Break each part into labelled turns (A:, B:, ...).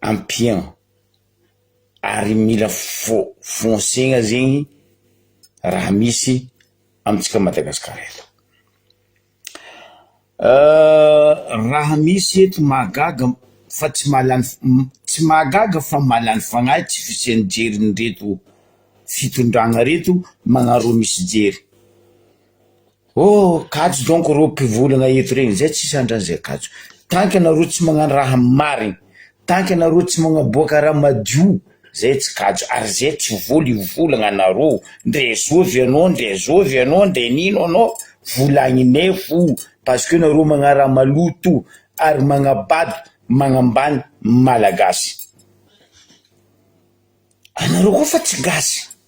A: ampian ary mila fo- fonsegna zegny raha misy amintsika Madagasikara eto. Raha misy eto mahagaga fa tsy mahalany f- m- tsy mahagaga fa mahalany fagnahy tsy fisian'ny jerin'ireto fitondragna reto magnaroa misy jery. Oh, kajo donko reo mpivolana eto regny zay tsisy andrany zay kajo, tant que anareo tsy magnano raha marigny, tant que anareo tsy magnaboaka raha madio zay tsy kajo, ary zay tsy vola io volagna anareo, ndre zovy anao ndre zovy anao ndre nino anao vola agninay fo parce que nareo magna raha maloto ary magnabado magnambany malagasy anareo koa fa tsy gasy.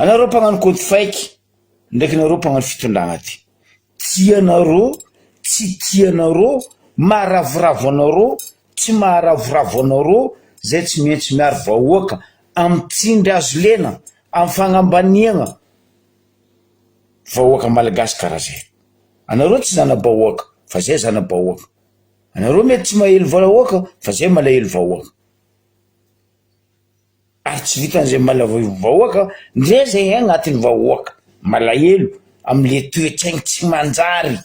A: Anareo mpagnano kôdy fake ndraiky nareo mpagnano fitondrana ty, tianareo tsy tianareo, maharavoravo anareo tsy maharavoravo anareo zay tsy maintsy miaro vahoaka amy tsindry azo lena amy fagnambaniagna vahoaka malagasy karaha zay, anareo tsy zanabahoaka fa zay zanabahoaka, anareo mety tsy mahely vahoaka fa zay malahelo vahoaka. ary tsy vitan'izay malavoivaoaka ndray zay agnatin'ny vahoaka malahelo amle toetsaigny tsy manjary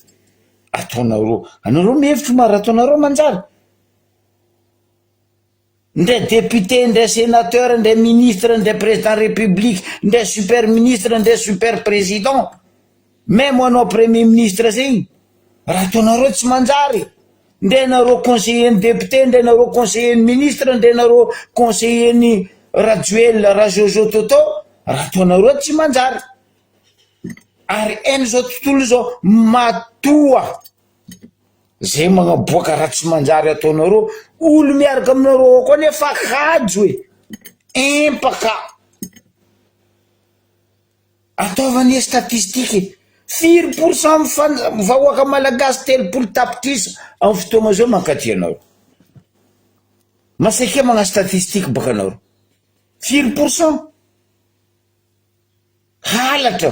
A: ataonareo anareo mihevitry mara ataonareo manjary ndray député ndray sénateur ndray ministre ndray président république ndray super ministre ndray super président Même anao premier ministre zegny raha ataonareo tsy manjary ndray ianareo conseiller ny député ndray ianareo conseiller ny ministre ndray ianareo conseiller ny rajoelina rajojo toto raha ataonareo tsy manjary ary en zao tontolo izao matoa zay magnaboaka raha tsy manjary ataonareo olo miaraka aminareo ao koa nefa hajo e empaka Ataovy anie statistique e! Firy pourcent amin'ny fan vahoaka malagasy telopolo tapitrisa amin'ny fotoagna zao mankaty anao? Masaikia magnano statistique baka anao reo. Firy pourcent? Halatra.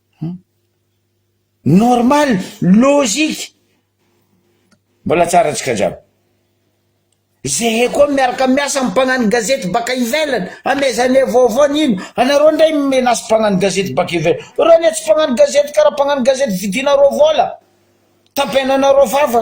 A: Normal, logique, mbola tsara tsika jiaby. Zahay koa miaraka miasa amin'ny mpagnano gazety baka ivelany, hamezane vaovao ny ino, anareo ndray mi-menace mpagnano gazety baka ivelany, reo anie tsy mpagnano gazety karaha mpagnano gazety vidinareo vola, tapenanareo fafa.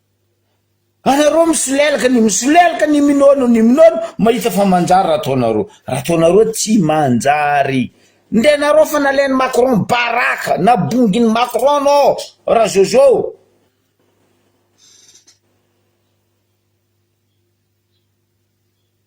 A: Anareo misolelaka ny misolelaka ny minono ny minono mahita fa manjary raha ataonareo raha ataonareo tsy manjary nde nareo fa nalain'i macron baraka na bongin'i macron no raha jojo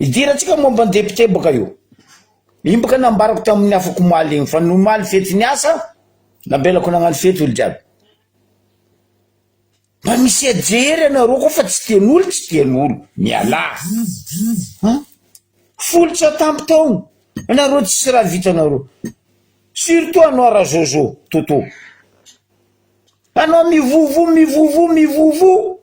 A: Hidirantsika momba ny depiote baka io. Imboka nambarako tamin'ny afako omaly iny fa ny omaly fety ny asa, namelako nagnano fety olo jiaby. Mba misia jery anareo koa fa tsy tian'olo tsy tian'olo. Mialà. Ha? Folo tsy atampo taogno. Anareo tsisy raha vitanareo. Surtout anao Rajojo, Toto. Anao mivovo, mivovo, mivovo.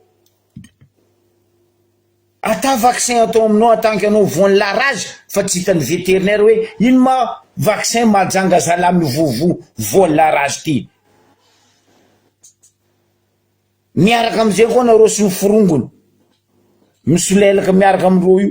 A: Ata vaccin atao aminao en tant que anao voan'ny la rage fa tsy hitan'ny veterinaire hoe ino ma vaccin mahajanga zala mivovo voan'ny la rage ty. Miaraka amizay koa nareo sy ny forongony misolelaka miaraka amireo io.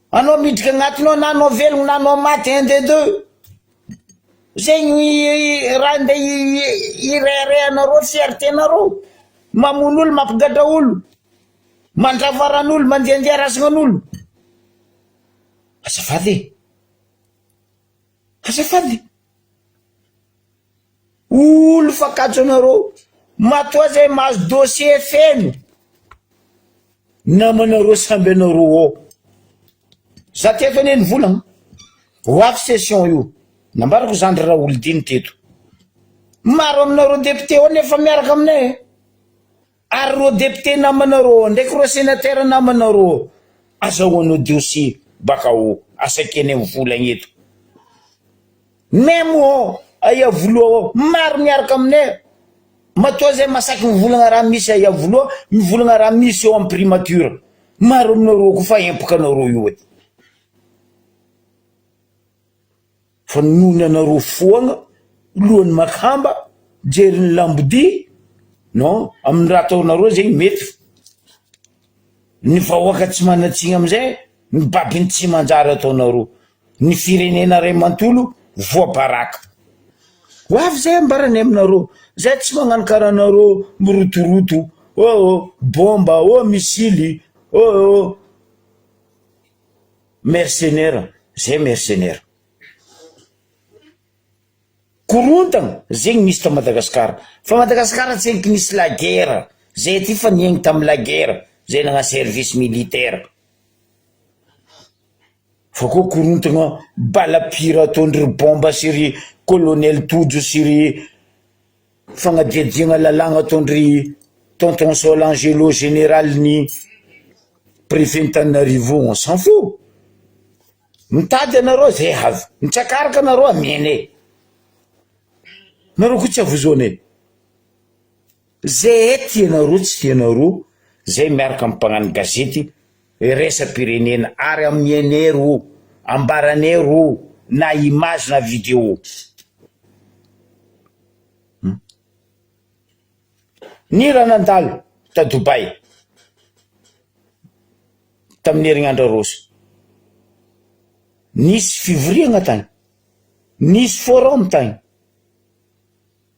A: Anao miditra agnatiny ao na anao velogno na anao maty un des deux zegny raha ndeha hireharehanareo fierté nareo mamono olo mampigadra olo mandrava ran'olo mandiandia razagnan'olo azafady e azafady. Olo fakatso anareo. Matoa zay mahazo dossier feno. Namanareo samby anareo ao. Za teto anie ny vola. Ho avy session io. Nambarako zandry Raholdine teto. Maro aminareo député ao nefa miaraka aminay e. Ary rô député namana rô ndraiky rô sénateur namana rô azahoanao diosy baka ao asakeny am volagna eto même ao aiavoloha ao maro miaraka aminay matoa zay masaky mivolagna raha misy aiavoloha mivolagna raha misy eo am primature maro aminareo ko fa empaka anareo io e. Fa noho ny anareo foagna lohan'ny makamba mijery ny lambodia non amin'ny raha ataonareo zegny mety fa ny vahoaka tsy manan-tsigny amizay ny babiny tsy manjary ataonareo ny firenena ray mantolo voabaraka ho avy zay ambaranay aminareo zay tsy magnano karaha anareo mirotoroto oh oh bomba oh missily oh oh Mercenaires zay mercenaires. Korontagna zegny misy ta Madagascar fa Madagascar tsy eky nisy la guerre zay aty fa niaigny tam la guerre zay nagna service militaire fa koa korontagna bala pire ataondry ry bomba sy ry colonel tojo sy ry Fagnadihadiagna lalàgna ataon-dry Tonton Sol Angelo Général ny Préfet-n'Tananarivo on s'en fout! Mitady anareo zay avy, mitsakaraka anareo amianay, nareo koa tsy avozoanay, zay ety ianareo tsy ianareo zay miaraka amy mpagnano gazety Iraisam-pirenena ary amin'ny Ener o, ambaran'Ener o, na image na video. Ny raha nandalo ta Dubai tamin'ny herinandro aroso, nisy fivoriagna tagny, nisy forum tagny.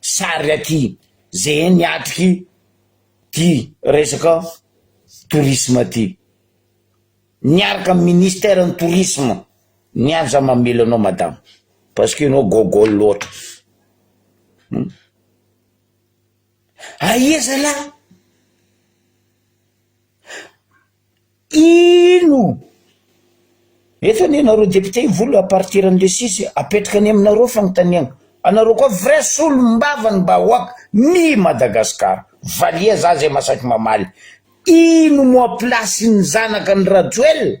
A: sary aty ze ny atriky ty resaka tourisme ty. Miaraka am ministère ny tourisme ny any za mamely anao madama parce que enao gogol loatra hum aia zalah. Ino? Eto anie nareo député i Volo à partir an'le six apetraka any aminareo fanontaniana anareo koa vrai solombavany bahoaka mi Madagascar valiha za zay masaky mamaly ino moa place ny zanaka ny Rajoel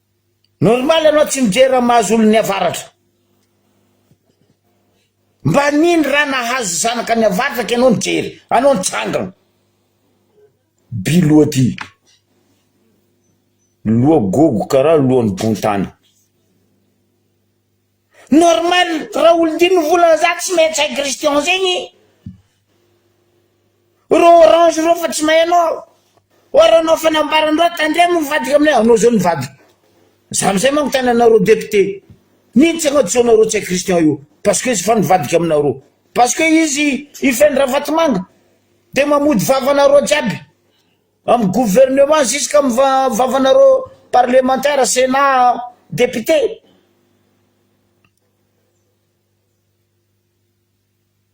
A: Normal anao tsy mijery raha mahazo olon'ny avaratra. Mba nino raha nahazo zanaka ny avaratra ka ianao nijery. Anao nitsangana. By loha ty. Loha gogo karaha lohan'ny bontany. Normal raha olon-dino vola za tsy maintsy hay christian zegny reo orange reo fa tsy mahay anao aho or raha anao fanambaran-dreo tandremo mivadika aminay anao zao nivadika za amizay manko tany anareo député nino tsy anao tsy anareo tsy hay christian io parce que izy efa nivadika aminareo parce que izy hifeindra vatomanga de mamody vavanareo jiaby Amin'ny gouvernement jusqu'à amin'ny vavanareo parlementaire, senat, député.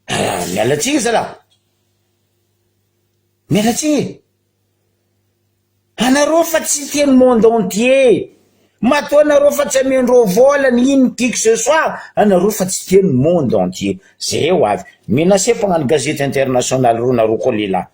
A: Ah, miala tsiny zalah. Miala tsiny e. Anareo fa tsy tia ny monde entier. Matoa anareo fa tsy amendreo vola ny ino qui que ce soit, anareo fa tsy tia ny monde entier. Zay ho avy. Menacé mpagnano gazety international reo nareo koa lehilahy.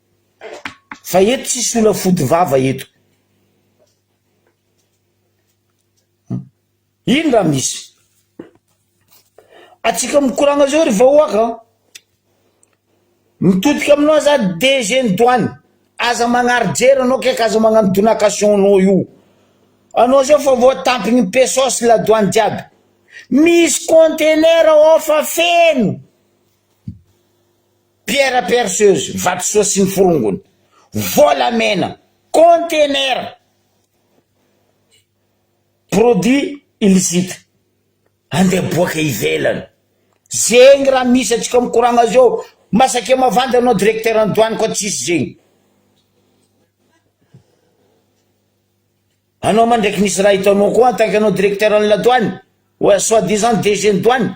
A: Fa eto tsisy olona fody vava eto. Ino raha misy? Atsika mikoragna zao ry vahoaka a! Mitodika aminao za DG ny douane, aza magnari-jery anao kaiky aza magnano donation anao io, anao zao efa voatampin'ny PSO sy la douane jiaby, misy contenaire ao fa feno. Pierre perceuse, vatosoa sy ny forongony, volamena, conteneur produit illicite andeha boaka ivelany. Zegny raha misy atsika mikoragna zao, masake mavandy anao directeur ny douane koa tsisy zegny. Anao ma ndraiky nisy raha hitanao koa en tant que anao directeur ny la douane, soit disant DG ny douane.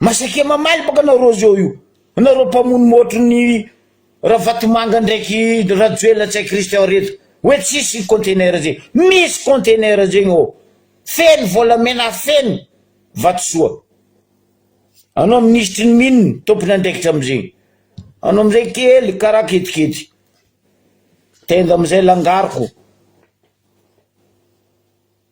A: Masake mamaly baka nareo zao io. Nareo mpamono motro ny Ravatomanga ndraiky Rajoelina tsy hay Christian reto. Hoe tsisy container zegny. Misy container zegny ô. Feno volamena feno vatosoa. Anao minisitry ny mine tompon'andraikitra amizegny. Anao amizay kely karaha ketikety. Tenda amizay langaroko.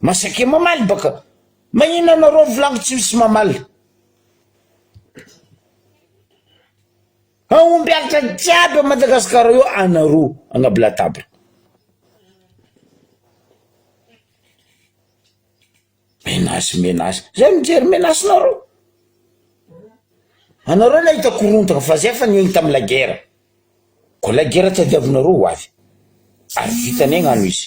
A: Masake mamaly baka. Mahina anareo volagniko tsy misy mamaly. Hahomby alitra jiaby ao Madagasikara io anareo agnaby latabatra. Menace menace, zay mijery menace nareo, anareo nahita korontana fa zay efa niaigny tamy la guerre, ko la guerre tadiavinareo ho avy, ary vitanay gnano izy.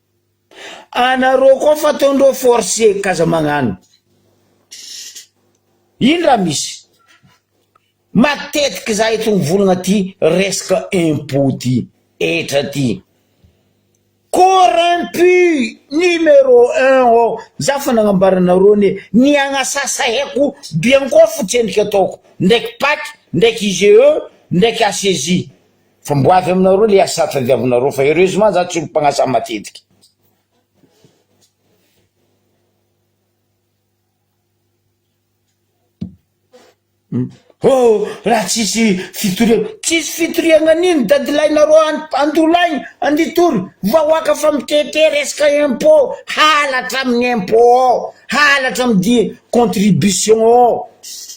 A: Anareo koa fataondreo force k'aza magnano. Ino raha misy? Matetiky za eto mivolagna ty resaka impot ty etra ty. Corrompu numéro un ao za fa nagnambara anareo ne ny agnasasaheko biankofotsy endrika ataoko ndraiky pac ndraiky IGE ndraiky HCJ Fa mbo avy aminareo le asa tadiavinareo fa heureusement za tsy olo mpagnasa matetika. Oh, raha tsisy fitoriana, tsisy fitoriana nino dadilahinareo an, andolaigny, anditory, vahoaka fa mitete resaka impot, halatra amin'ny impot ao, halatra amin'ny di, contribution ao,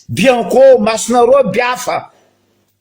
A: bianco, masonareo biafa.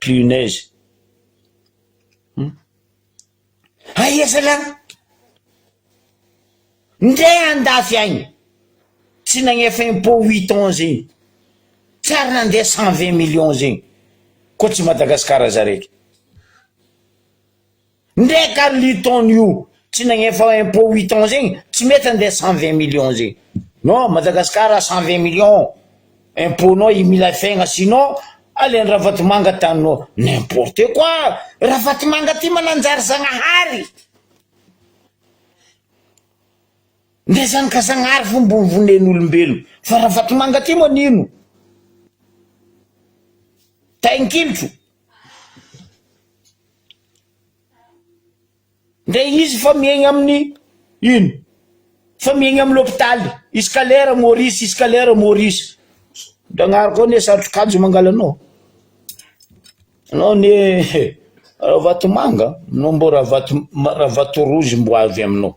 A: Punaise. Hum. Aia zalah? Ndeha andafy agny. Tsy nagnefa impôt huit ans zegny. Tsy ary nandeha cent vingt millions zegny. Koa tsy Madagasikara za raiky. Ndrey ka Luton io tsy nagnefa impôt huit ans zegny tsy mety andeha cent vingt millions zegny non Madagascar cent vingt millions impôt nao i Milay Fegna sinon alain'i Ravatomanga taninao n'importe quoi Ravatomanga ty mananjary Zagnahary ndrey zany ka Zagnahary fo mbo vonen'olombelogno fa Ravatomanga ty manino tainkilotra Ndray izy fa miaigna amin'ny ino? Fa miaigna amin'ny lopitaly, izy ka lera Maurice, izy ka lera Maurice. Ndragnahary koa anie satrokanjo mangala anao. Anao anie he, Ravatomanga, anao mbô Ravato- Ravatorozy mbo avy aminao.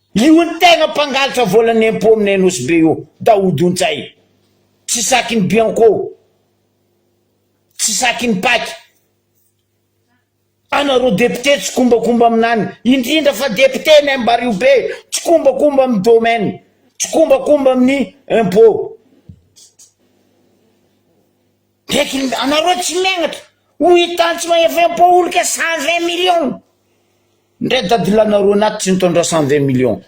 A: Io ny tegna mpangalatra volan'ny impôt aminay Nosy Be io, Daoud Ontsay. Tsy sakin'ny bianco. Tsy sakin'ny pac. Anareo député tsikombakomba aminany, indrindra fa député ny Ambarihobe, tsikombakomba amin'ny domaine, tsikombakomba amin'ny impôt. Bety ny anareo tsy miangatra. Ho hitan tsy mahefaimpo olika cent vingt millions ndray dadilanareo anaty tsy nitondra cent vingt millions.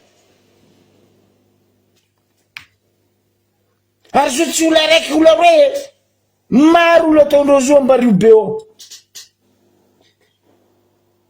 A: Ary zo tsy ola araiky ola roe e. Maro ola ataondreo zo ambariobeo.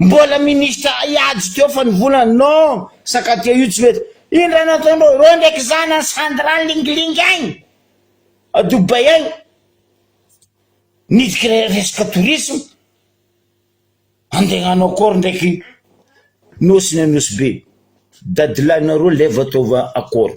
A: Mbola ministra hiady teo fa ny volana non sakatia io tsy mety iny raha nataonao ireo ndraiky zany any sandra lingilingy agny a Dubai agny nidika resaka tourisme andegnano akôry ndraiky nosy ny anosibe dadilahinareo levy ataova akôry.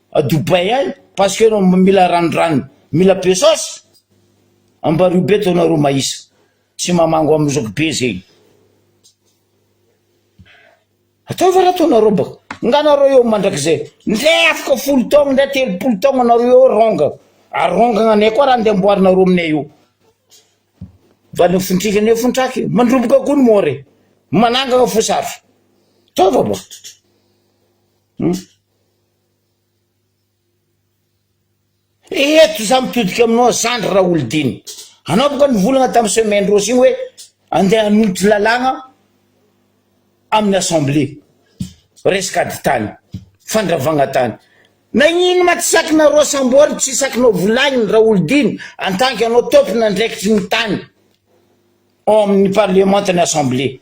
A: à Dubaï any parce que enao mila ranondranony mila be saosy ambario be to nareo mahisa tsy mamango am zoky be zegny ataova raha to nareo ba nga nareo eo mandrakizay ndre afaka folo taogno ndre telopolo taogno nareo eo ronga arongagna anay koa raha ndeha amboarinareo aminay eo valo fintrika ne fintraky mandroboka koa ny more manangana fosafy taova ba hmm? Eto za mitodika aminao zandry Raholidina, anao boka nivolagna tam semaine roa sy igny hoe andeha hanolotra lalàgna amin'ny assemblée, resaka ady tany, fandravagna tany, nagnino ma tsy sakinareo sambory tsy sakinao volagniny Raholidina en tant que anao tompon' andraikitry ny tany ao amin'ny parlemanta ny assemblée.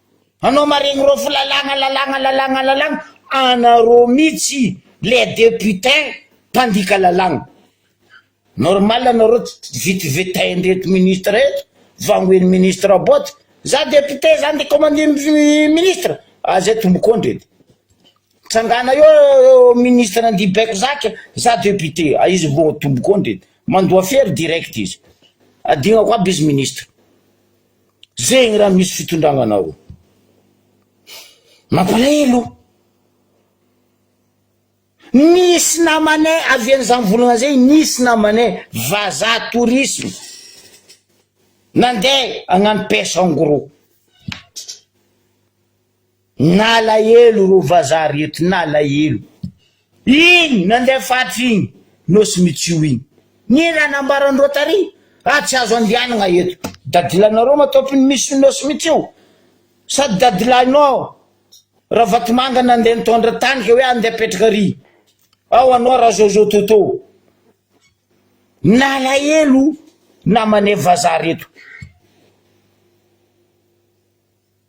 A: Anao maregny rô fo lalàgna lalàgna lalàgna lalàgna anarô mitsy les deputain mpandika lalàgna normal anarô tsy vit vitain reto ministre reto vangoen'ny ministre bôty za deputain za nde commande ministre ah zay tombokôndry edy tsangana eo ministre andia baiko zaka za deputé ah izy vô tombokôndry edy mandoa fery direct izy adignako aby izy ministre Zegny raha misy fitondragna anao. Mampalahelo. Nisy namanay avy any Zambolagna zay nisy namanay vazaha tourisme nandeha hagnano pêche en gros. Nalahelo rô vazaha reto nalahelo iny nandeha faritra iny nosy mitsio iny ny raha nambaran'i rotary ah tsy azo andianagna eto dadilanareo matopy ny misy nosy mitsio sady dadilahinao aho ravatomanga nandeha nitondra tany ka hoe andeha apetraka ary ao anao raha zao zao toto nalahelo namanay vazaha reto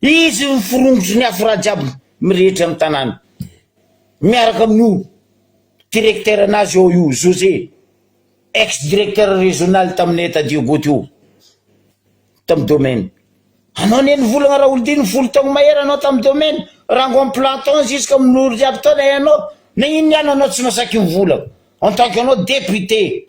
A: Izy no miforongotro ny afo ra jiaby mirehitra ny tanàna. Miaraka amin'io directeur nazy ao io José, ex directeur régional tamin'ny Etat du Gout io, tamin'ny domaine. Anao anie nivolagna Raholdina folo taogno mahery anao tamin'ny domaine, rango am planton jusqu'à minory jiaby taona ianao, na inona ihany anao tsy nasaky nivolagna, en tant que anao député.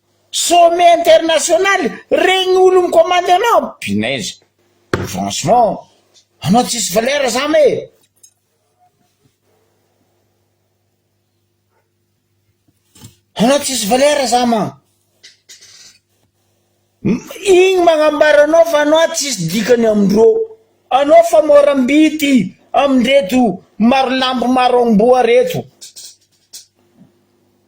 A: Sommet international regny olo mikomandy anao punaise franchement anao tsisy valeur zam e. Anao tsisy valeur zam an. Igny magnambara anao fa anao tsisy dikany amindreo. Anao fa moram-bity amindreto maro lambo maro amboa reto.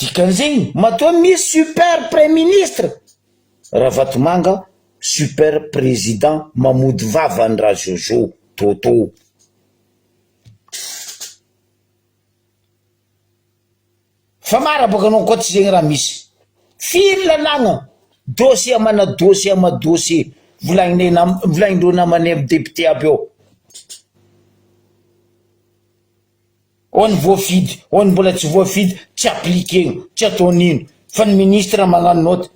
A: Dikan'izegny matoa misy super praiministra ravatomanga super président mamody vava any ra jojo toto. Fa mara boka anao koa tsy zegny raha misy. Firy lalàgna, dossier amana dossier ama dossier volagninay nam- volagnindreo namanay am député aby ao. Ao ny voafidy, ao ny mbola tsy voafidy, tsy appliquer-gna, tsy atao nino, fa ny ministre magnano note.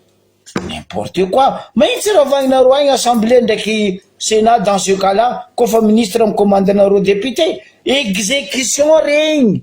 A: N'importe quoi, mahitsy ravahinareo agny assemblée ndraiky senat dans ce cas là, kô fa ministre mi-commande anareo député, exécution regny,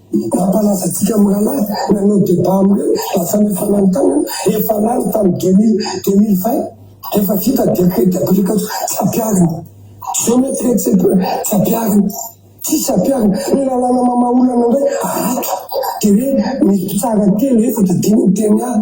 B: Nampalazantsika mirahalahy nanao débat amin'ireo mba samy fananontanana efa lany tamin'ny deux mille, deux mille vingt rehefa vita décret d'application tsy ampiharina. Je ne traite pas tsy ampiharina, tsisy ampiharina. Ny lalàna mamaha olana indray ato dia hoe misy mpitsara telo, efatra, dimy miteny ahy.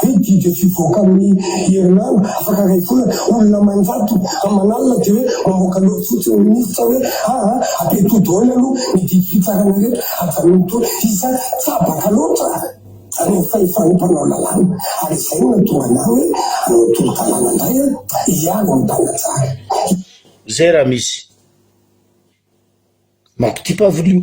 B: Hoe didy tsy hivoaka amin'ny herinandro afaka iray volana, olona aman-jato aman'alina dia hoe mamoaka lova fotsiny ny minisitra hoe aa ampiatoa daholo aloha ny didim-pitsarana ireto avy amin'ny to isa tsabaka loatra zany amin'ny fahefan'ny mpanao lalàna ary izay no nahatonga anah hoe hanao tolo-dalàna indray aho hiaro ny mpanajary. Zay
A: raha misy mampitia-paviliho.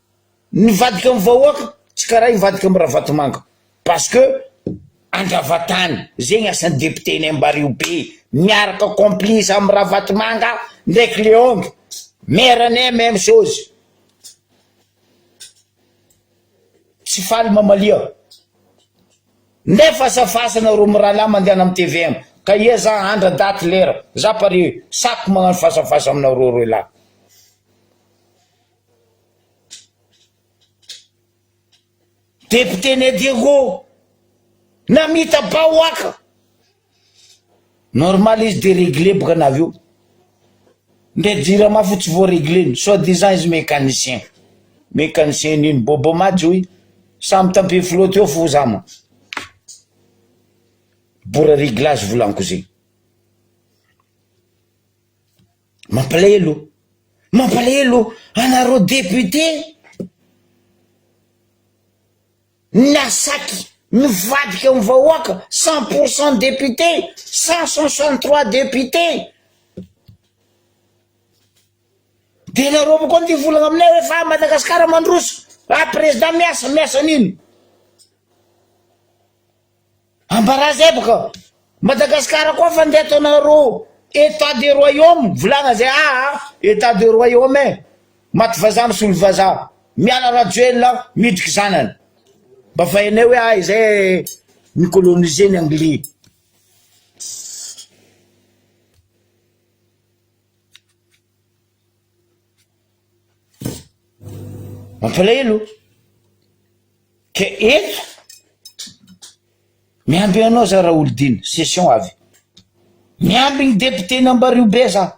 A: Nivadika am vahoaka tsy karaha ivadika am ravatomanga parce que andravatany zegny asan'ny député ny ambariho be miaraka complice am ravatomanga ndraiky leongy maire ny même chose tsy faly mamalia ndray fasafasana ro miralahy mandehana am tvm ka ia za andra daty lera za pare saky magnano fasafasa aminareo roe lahy Député Né Diego namita bahoaka normal izy de regle boka na avy eo ndray jirama fo tsy voaregleny soit disant izy mécanicien mécanicien nino bobo maty hoy samy tampe flotte eo fo za ma bora reglage volanko zegny Mampalahelo, mampalahelo anareo député nasaky nivadika amin'ny vahoaka cent pour cent député cent soixante trois député de nareo avao koa ny volana aminay hoe fa Madagasikara mandroso ah président miasa miasa an'ino Ambarazay baka Madagascar koa fa ndeha ataonareo etat de royaume volagna zay aa etat de royaume eh maty vazaha misolo vazaha miala rajoelina miditry zanany mba fa enay hoe ahy zay ni colonise ny anglais Mampalahelo o! Ka eto, miamby anao za Raholdina, session avy. Miamby ny depioten'i Ambaribe za.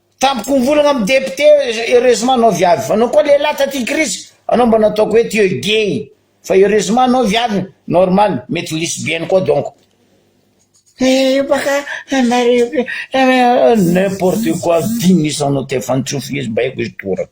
A: Tampoka mivolagna am député heureusement anao viavy anao koa lehilahy taty crise anao mba nataoko hoe teo gay fa heureusement anao viavy normal mety lesbienne koa donc eh io baka anareo io ke n'importe quoi dimy isanao tefany tsy ho fihizim-baiko izy toraka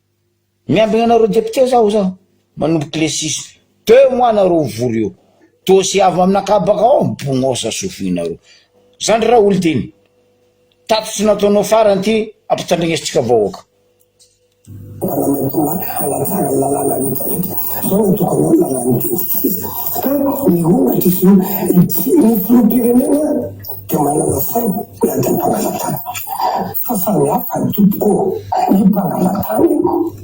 A: Miambina anareo député zaho zaho manomboka le six deux mois nareo mivory eo dossier avy aminakah baka ao bognosa sofinareo zandry raha olo dimy tatitry nataonao farany ty ampitandregnesintsika vahoaka Dia manana saina na dia mpanala tany aza. Fa samy hafa ny tompoko ô, ny
B: mpanala tany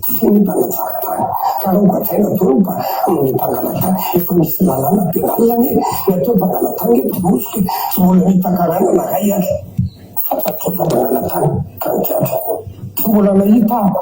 B: sy ny mpanatsara tany. Ka raha hogadraina avy eo mba amin'ny mpanala tany, efa misy lalàna pénal anie, ny atao mpanala tany eto Bosy tsy mbola nahita karana na ray aza. Fantatro fa mpanala tany ka ny gadra. Tsy mbola nahita aho.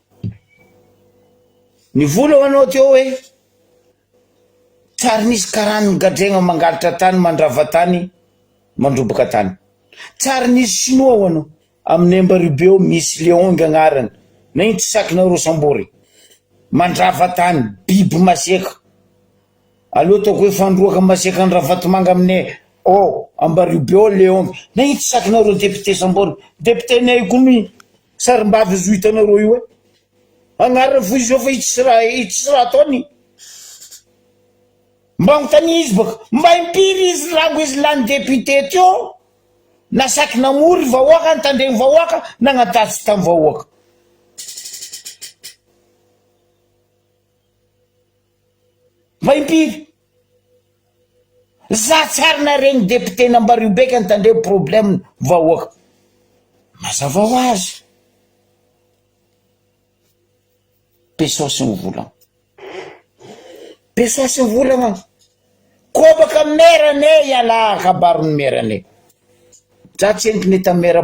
A: Nivola ho anao teo hoe, Tsy ary nisy karan'ny gadregna mangalatra tany, mandrava tany, mandroboka tany. Tsy ary nisy Shinoa ho anao. Amin'ny Emba-Ribe ao misy Leong agnarany, na ino tsy sakinao reo sambory e. Mandrava tany, biby masiaka. Aleo ataoko hoe fandroaka masiaka an-dRavatomanga aminay ao Ambaribe ao Leong. Na ino tsy sakinao reo depiote sambory. Depiotenay koa mi- Sarimbavy azo hitanareo io e. Agnarany fo izy eo fa itsy ra itsy ra ataony. Mba anontania izy baka, mba impiry izy rango izy lany député teo na saky namory vahoaka, nitandregny vahoaka, nagnatatsy tam vahoaka. Mba impiry? Za tsy ary naregny député nambario beka ny tandremo problème ny vahoaka. Mazava ho azy. Pesos ny volagna. Pesos ny volagna. Kobaka mera ne iala kabaro ny mera ne. Za tsy entiny eta mera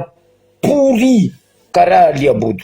A: pourri karaha liabodo.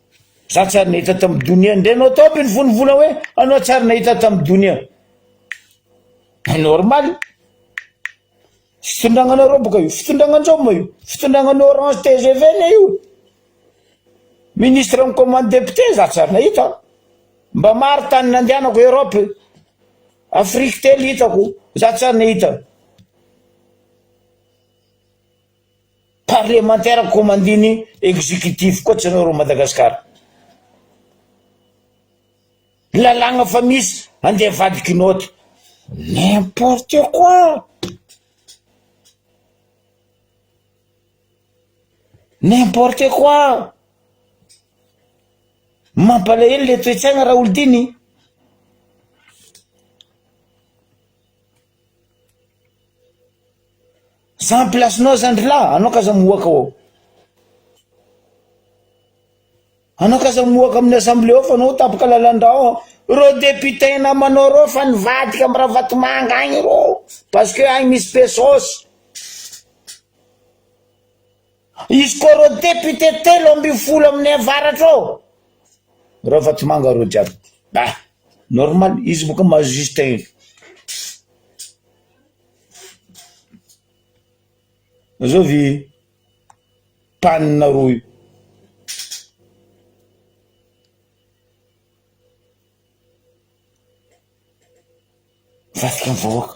A: Za tsy ary nahita tamin'ny donia ndray anao tao amby ny folo volana hoe anao tsy ary nahita tamin'ny donia. Ba normal. Fitondragnanareo boka io, fitondranganjaoma io, fitondrangan'ny Orange TGV le io. Ministre amin'ny commande député za tsy ary nahita. Mba maro tany nandehanako Europe. Afrique telo hitako, za tsy ary nahita. Parlemantera komandiny executif koa tsy anao reo Madagascar. Lalagna fa misy ande avadiky note. N'importe quoi. N'importe quoi. Mampalahelo le toetsaina Raholdiny. Za am place nao za ndry lahy anao k'aza moaka ao, anao k'aza moaka amin'ny assemblée ao fa anao tapaka lalandrà ao, reo député namanao reo fa nivadika am ravatomanga agny reo parce que agny misy pesos. Izy koa reo député telo ambin'ny folo amin'ny avaratra ao Ravatomanga reo jiaby ba normal izy boka maha juste iny zao vi panina roa io vadika ny vahoaka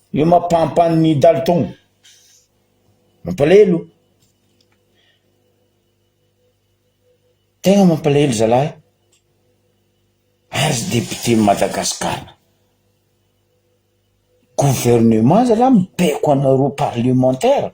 A: Io mampampan ny dalton. Mampalahelo. Tegna mampalahelo zalahy ary député Madagascar. Gouvernement zalahy mibaiko anareo parlementaire.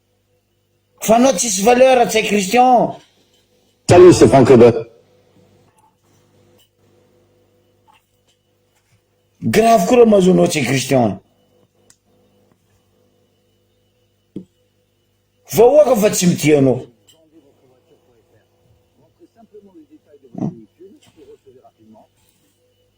A: Fa anao tsisy valeur Ratsay Christian. Salut
C: c'est Franck Weber.
A: Grave koa raha mahazo anao Ratsay Christian. Vahoaka fa tsy mitia anao.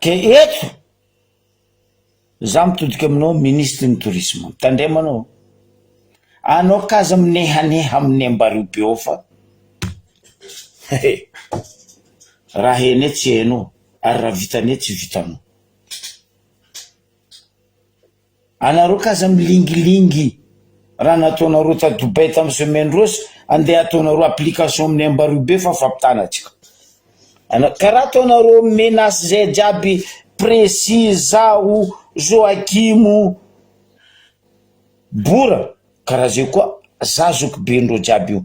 A: Dia eto za mitodika aminao ministry ny tourisme, mitandrema anao a, anao ka aza minehaneha amin'ny ambarivo be ao fa raha hainay tsy hainao ary raha vitanay tsy vitanao. Anareo ka aza milingilingy raha nataonareo ta Dubai tam semaine rose ande ataonareo application aminy Ambaribe fa fampitana atsika ana ka raha ataonareo menace zay jiaby Pressy zaho Joachim Bora ka raha zay koa za zokibe ndreo jiaby io.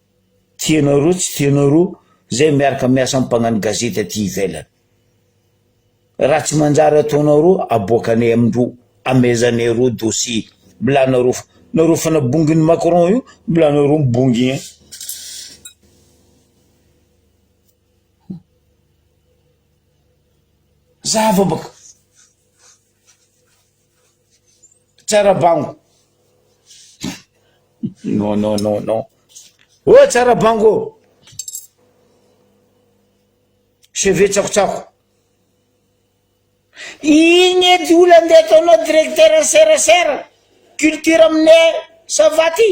A: Tianareo tsy tianareo zay miaraka miasa am mpagnano gazety aty ivelany. Raha tsy manjary ataonareo aboakanay amindreo amezanay reo dossier mbola anareo fa nareo fanabonginy Macron io mbola anareo mibongy eny. Zava baka. Tsara bango. Non, non, non, non. Oh, tsara bango. Cheveux tsakotsako. Igny edy olona ndeha ataonao directeur ny serasera culture aminay savaty.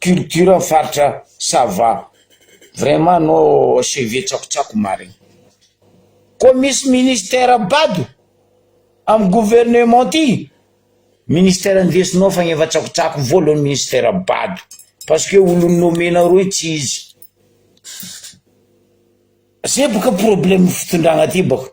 A: Culture ny faritra sava. Vraiment no CV tsakotsako marigny. Koa misy ministère bado am gouvernement ty ministère ndesinao fa efa tsakotsako voalohany ministère bado parce que olo nommé nareo io tsy izy. Zay boka problème fitondragna ty baka.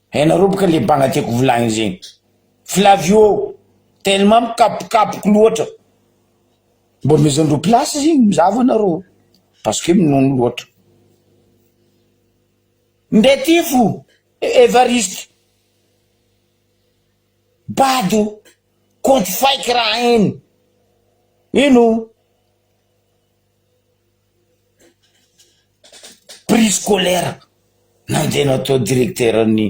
A: Hainareo boka le banga tiako volagnina zegny Flavio ô! Tellement mikapokapoko loatra, mbô amezandreo place zegny mizava anareo parce que minono loatra. Ndeha ty fo Evariste bado compte fake raha iny ino. prix scolaire nandeha natao directeur ny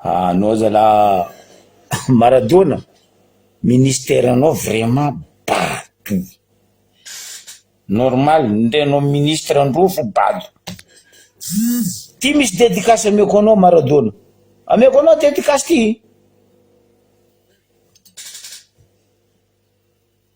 A: ah anao zalah maradona ministère nao vraiment bado normal ndre anao ministre ndrofo bado ty misy dedicace ameko anao maradona ameko anao dedicace ty.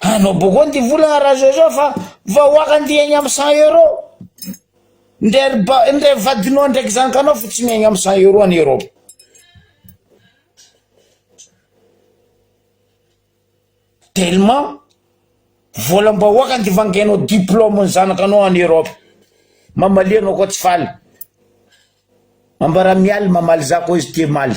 A: Anao boko nty vola arazo zao fa vahoaka nty hiaigna am 100 euro ndre ry ba ndre ry vadinao ndreky ry zanakanao fa tsy miaigna am 100 euro any Europe. Tellement volam bahoaka nty vangainao diplôme ny zanakanao any Europe. Mamalia anao koa tsy faly. Ambara mialy mamaly za koa izy tia maly.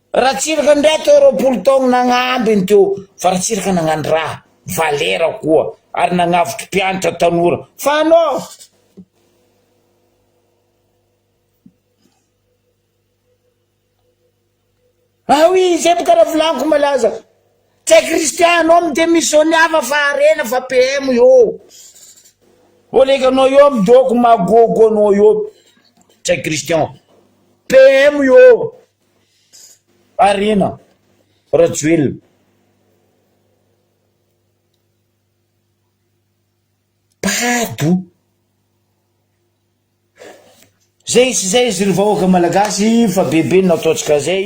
A: Ratsiraka ndray atao roapolo taogno nagnamby ny teo fa ratsiraka nagnano raha valera koa ary nagnavotry mpianatra tanora fa anao Ah oui zay boka raha volaniko malaza tsy hay Christian anao mi-demissionne hafa fa harena fa PM io oleka anao io amy doko magogo anao io tsy hay Christian PM io. Harena Rajoelina, bado zay sy zay izy ry vahoaka malagasy fa bebe ny nataontsika zay.